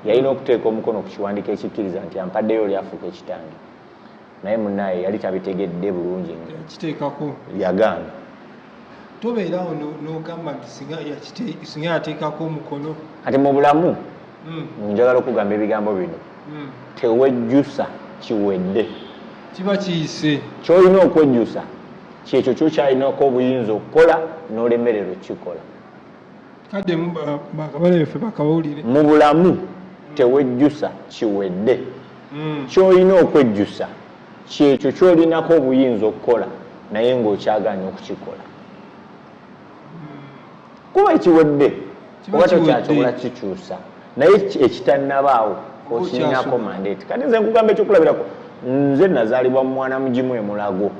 yalina okuteeka omukono ku kiwandiiko ekikkiriza nti ampaddeyo oli afuuka ekitange naye munaye yali tabitegedde bulungi kiteekako yagaana tobeerawo nogamba nti singa yateekako omukono kati mu bulamu hmm. njagala okugamba ebigambo bino hmm. tewejjusa kiwedde kiba kiyise kyolina okwejjusa kyekyo kyokyalinako obuyinza okukola nolemerero kikola mu bulamu tewejjusa kiwedde hmm. kyolina okwejjusa kyekyo kyolinako obuyinza okukola naye ngaokyaganya okukikola hmm. kuba ekiwedde oba tokyakyobola kikyusa naye ekitanabaawo okirinako mandate kati nze nkugamba ekyokulabirako nze nazaalibwa mu mwana mugimu emulago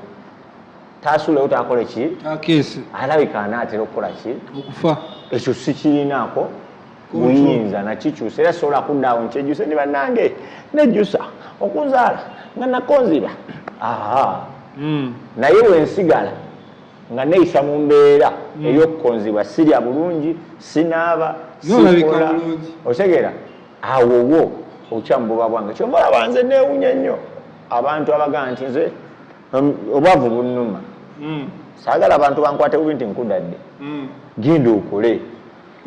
taasulewo takole ki takeese alabika anaatera okukola ki okufa ekyo sikirinaako buyinza nakikyusa era sobola kuddaawo nkyejuse ni bannange nejjusa okuzaala nga nakonziba aha hmm. naye wensigala nga neyisa mu mbeera hmm. eyokukonzibwa sirya bulungi sinaaba sikola otegeera awowo okyamububa bwange kyovaola banze newunya nnyo abantu abagaa nti nze obwavu bunuma hmm. sagala abantu bankwate bubi nti nkudadde hmm. genda okole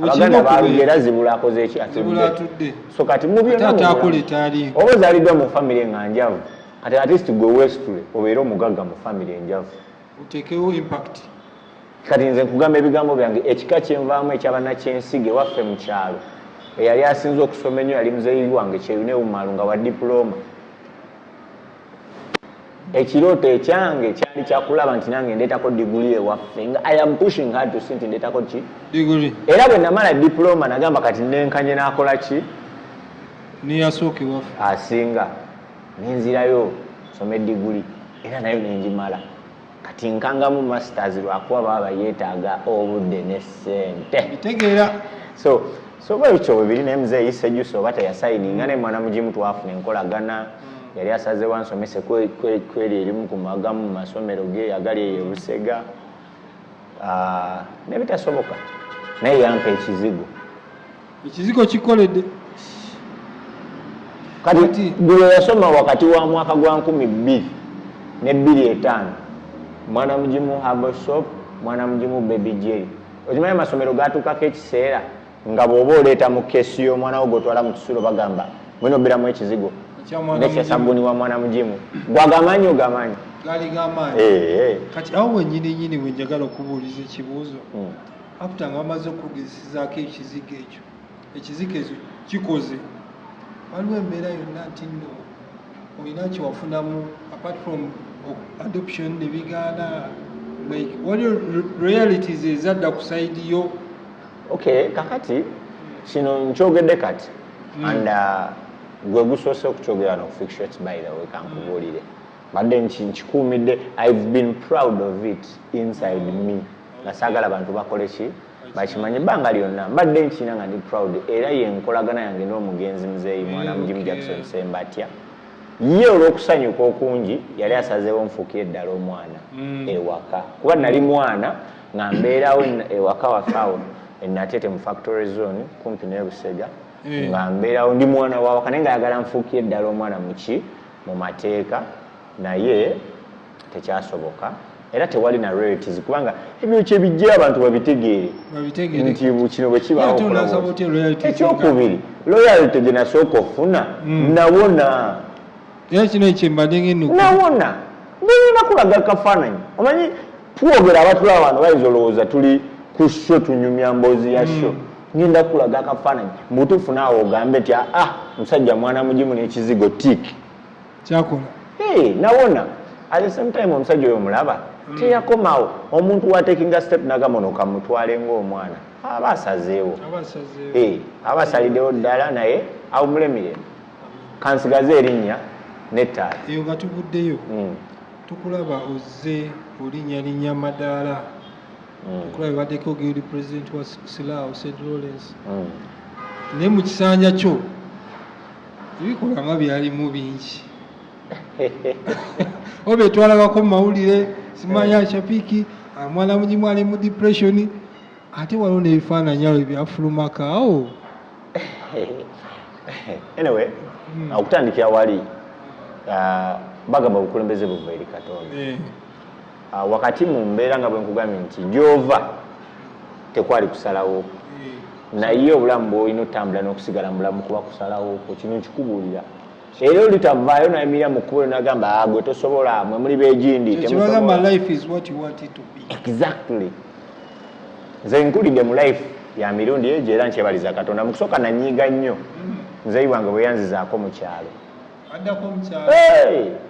abaganda balugera zibula akoze eki atudde so kati mubyonaoba ozaliddwa mu famiry nga njavu kati atist gwe westule obeere omugagga mu famiry enjavu otekewo impact kati nze nkugamba ebigambo byange ekika kyenvaamu ekyabanakyensiga ewaffe mu kyalo eyali asinze okusoma ennyo yali muzeeyi wange kyeyunewumalu nga wa dipulooma ekirooto ekyange kyali kyakulaba nti nange ndeetako diguli ewaffe nga i am pushing her to see nti ndeetako ki diguli era bwe namala diploma nagamba kati nenkanye nakola ki niyasooka ewaffe asinga nenzirayo some diguli era nayo nenjimala Kati nkangamu masters lwakuba baba yetaaga obudde ne ssente. Bitegeera. So so bwe bityo bwe biri naye muzeeyi Sejusa oba teyasayidinga naye mwana mugimu twafuna enkolagana mm. yali asazewo ansomese kweri erimu ku magamu mu masomero ge agali eyo Busega ah, ne bitasoboka naye yampa ekizigo. Ekizigo kikoledde kati gulo yasoma wakati wa mwaka gwa nkumi bbiri ne bbiri etaano mwana mugimu herbal soap mwana mugimu baby jerry okimanyi amasomero gatuukako ekiseera nga bw'oba oleeta mu kesi y'omwana wo gwotwala mu kisulo bagamba mulina obeeramu ekizigo nekyesabuni wa mwana mugimu gwagamanyi ogamanyi gali gamanyi eh, eh. kati awo wenyini nyini wenjagala okubuuliza ekibuuzo hmm. aputa nga bamaze okugezesezaako ekizigo ekyo ekizigo ekyo kikoze waliwo embeera yonna nti nno olina kyewafunamu apart from adoption nebigaana like waliwo realities ezadda ku saidi yo okay kakati kino nkyogedde kati hmm. and uh, gwe gusoose okukyogera no fictions by the way kankubuulire mbadde nkikuumidde i've been proud of it inside me nga saagala bantu bakole ki bakimanye ebbanga lyonna mbadde nkiina nga ndi proud era ye nkolagana yange n'omugenzi muzeeyi mwana mujimu jackson sembatya ye olw'okusanyuka okungi yali asazeewo nfuukire eddala omwana mm. ewaka kuba nali mwana nga mbeerawo ewaka wafe awo enatete mu factory zone kumpi ne busega eh. nga mbeerawo ndi mwana wawaka naye nga ayagala nfuukire eddala omwana muki mu mateeka naye tekyasoboka era tewali na realities kubanga ebyo kyebijja abantu babitegeere nti kino bwe kibaawoekyokubiiri loyalty gye nasooka ofuna hmm. nawona nawona ngenyina kulaga kafaananyi omanyi twogera abatula abantu bayinza olowooza tuli ku sho tunyumya mboozi ya sho hmm. ngenda kulaga akafaananyi mubutuufu naawe ogambe nti aa ah, ah, musajja mwana mugimu n'ekizigo tik kyakola hey, nawona at the same time omusajja oyo omulaba mm. teyakomawo omuntu watekinga step nagamono kamutwale ngaomwana aba asazeewo hey, aba asalidewo ddala naye awumulemiren kansigaze erinnya nettaala eyo nga tuvuddeyo mm. tukulaba ozze olinyalinya madaala mm. okulaba ebaddeko guild president wa silaawo st lawrence mm. naye mu kisanja kyo ebikolwa nga byalimu bingi oba etwalabako mu mawulire simanya eh. shapiki ah, mwana mugimu ali mu depression ate waliwo n'ebifaananyi awo ebyafulumaka awo anyway hmm. okutandikira wali ah, bagamba obukulembeze buva eri katonda eh. Ah, wakati mu mbeera nga bwe nkugambye nti gy'ova tekwali kusalawo naye obulamu bwolina otambula n'okusigala mu bulamu kuba kusalawo kwo kino nkikubuulira era olitavaayo nayimirira mu kkubo nagamba ah, gwe tosobola mwe muli begindi exactly nze nkulidde mu life ya mirundi egyo era nkyebaliza katonda mu kusooka nanyiiga nnyo mm. nzeyi wange bweyanzizaako mu kyalo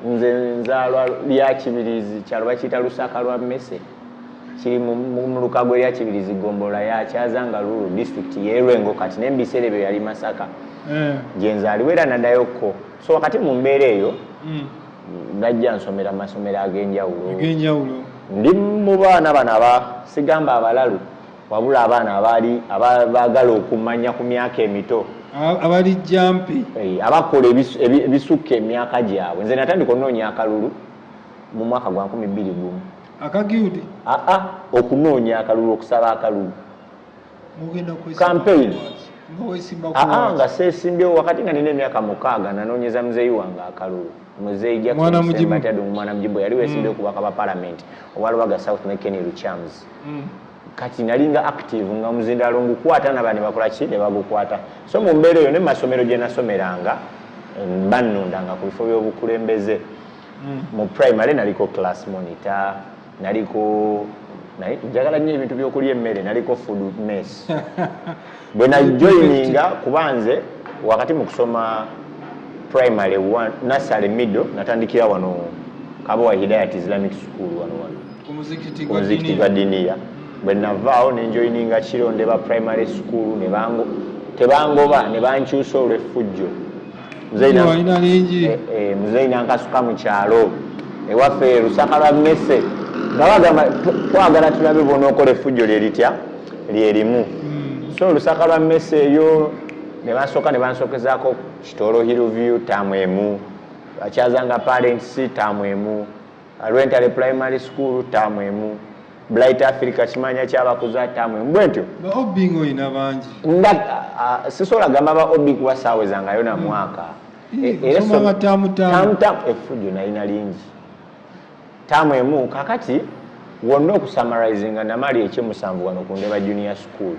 nze nzalwa lya kibirizi kyalo bakiyita lusaka lwa mmese kiri mu lukago erya kibirizi gombolola yakyaza nga lulu disitulikiti yerwengo kati naye mubiseera ebyo yali masaka eh. gyenzaliwo era nadayo ko so wakati mu mbeera eyo hmm. najja nsomera masomero ag'enjawulo ndi mu baana bano abasigamba abalalu Wabula abaana abaali abaagala okumanya ku myaka emito abali jampi eh, abakola ebisukka emyaka gyabwe nze natandika onoonya akalulu mu mwaka gwa nkumi bbiri gumu akagiudi aa ah, ah, okunoonya akalulu okusaba akalulu kampeyini aa ah, nga seesimbyewo wakati nga nina emyaka mukaaga nanoonyeza muzeeyi wange akalulu muzeeyi jackson mwana mujibu yali weesimbyewo mm. kubaka ba palamenti owa lubaga south ne kenny luchams kati nalinga active nga muzindalo ngukwata nabandi bakola ki ne bagukwata so mu mbeera eyo ne masomero gye nasomeranga mm, bannundanga ku bifo by'obukulembeze mm. mu primary naliko class monitor naliko naye njagala nnyo ebintu by'okulya emmere naliko food mess bwe najoininga kuba nze wakati mu kusoma primary nasale middle natandikira wano kabowa hidayat islamic school wano wano ku muzikiti gwa diniya bwe navaawo nenjoininga kirondeba primary school tebangoba nebankyusa olweffujjo muzeyi nankasuka mu kyalo ewaffe lusaka lwa mese nga bagamba twagala tulabe bona okola effujjo lye litya lye limu hmm. so lusaka lwa mese eyo ne basooka ne bansokezaako kitolo hill view taamu emu bakyazanga parents taamu emu Rwentale Primary School ttaamu emu. Blight Africa kimanya kyabakuza ttaamu emu bwentyo. Ba OB nga olina bangi. Nda uh, sisobola gamba ba OB kuba saaweza nga yona hmm. mwaka. Hmm. E, era so ttaamu ttaamu efujjo nalina lingi ttaamu emu kakati wonna okusamarizinga namali ekyemusanvu wano ku ndeba junior school.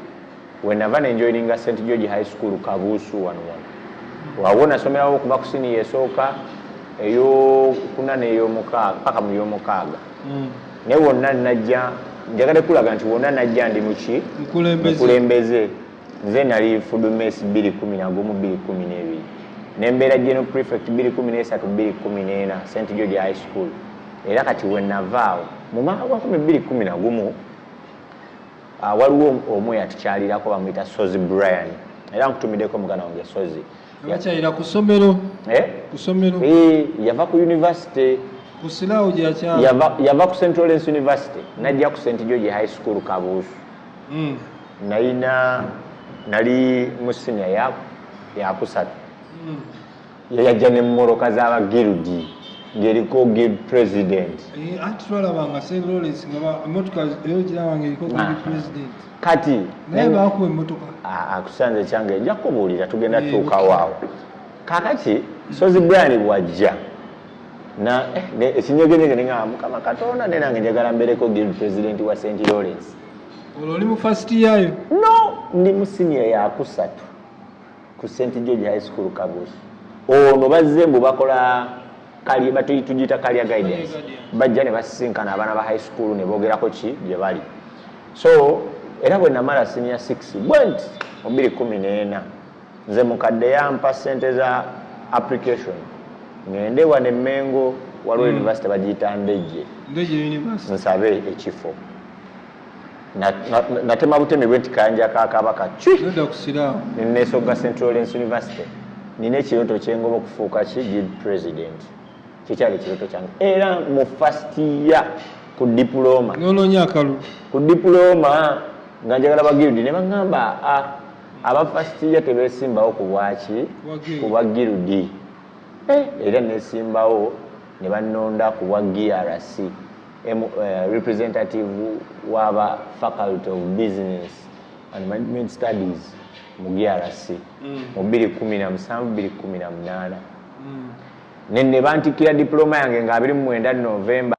wenava ne njoininga st george high school kabuusu wano wano wawo nasomerawo okuva ku siniya esooka eyokuna neyomukaaga paka mu yomukaaga mm. naye wonna najja njagade kulaga nti wonna najja ndi muki mukulembeze nze nali fudumes 21212 nembeera general prefect 23214 st george high school era kati wenavaawo mu mwaka gwa 212 Ah, waliwo omu eyatukyalirako bamuyita sozi brian era nkutumideko mugana wange sozi yakyalira kusomero eh? kusomero eh, yava ku university kusilawo gyakyala yava, yava ku central lens university najja ku st george high school kabuusu mm. nayina nali mu senior yakusatu mm. yajja ne mumoroka za ba guildi ngeriko guild president eh, anti twalabanga saint lawrence nga emotoka eyo girabanga eriko guild ah. president kati naye bakuwa emotoka ah, akusanze kyange nja kubuulira tugenda eh, tuukawaawo kakati sozi brian bwajja na eh, ekinyegenyege ninga mukama katonda ne nange njagala mbereko guild president wa saint lawrence olwo oli mu first yayo no ndi mu siniya yakusatu ku St George High School Kabusu. Ono bazze mbu bakola kali batuyi tujita kalya guidance. Bajja ne basisinkana abaana ba high school ne bogerako ki gye bali. So era bwe namala senior 6 bwent omubiri kumi n'ena nze mukadde yampa sente za application ngende wa ne Mengo waliwo mm. university bagiyita Ndeje nsabe ekifo natema butemi bwe nti kayanja ka kabaka nenesoga central lens university nina ekiroto kyengoba okufuuka ki gid president kyekyali ekiroto kyange era mu first year ku diploma nononya akalu ku diploma nga njagala bagirudi ne bagamba ah, aba first year tebesimbawo ku bwaki ku bwagirudi eh, era nesimbawo ne banonda ku bwa grc M, uh, eh, representative waba faculty of business and management studies mu grc mm. mu 217 mm. nene bantikira diploma yange nga 29 november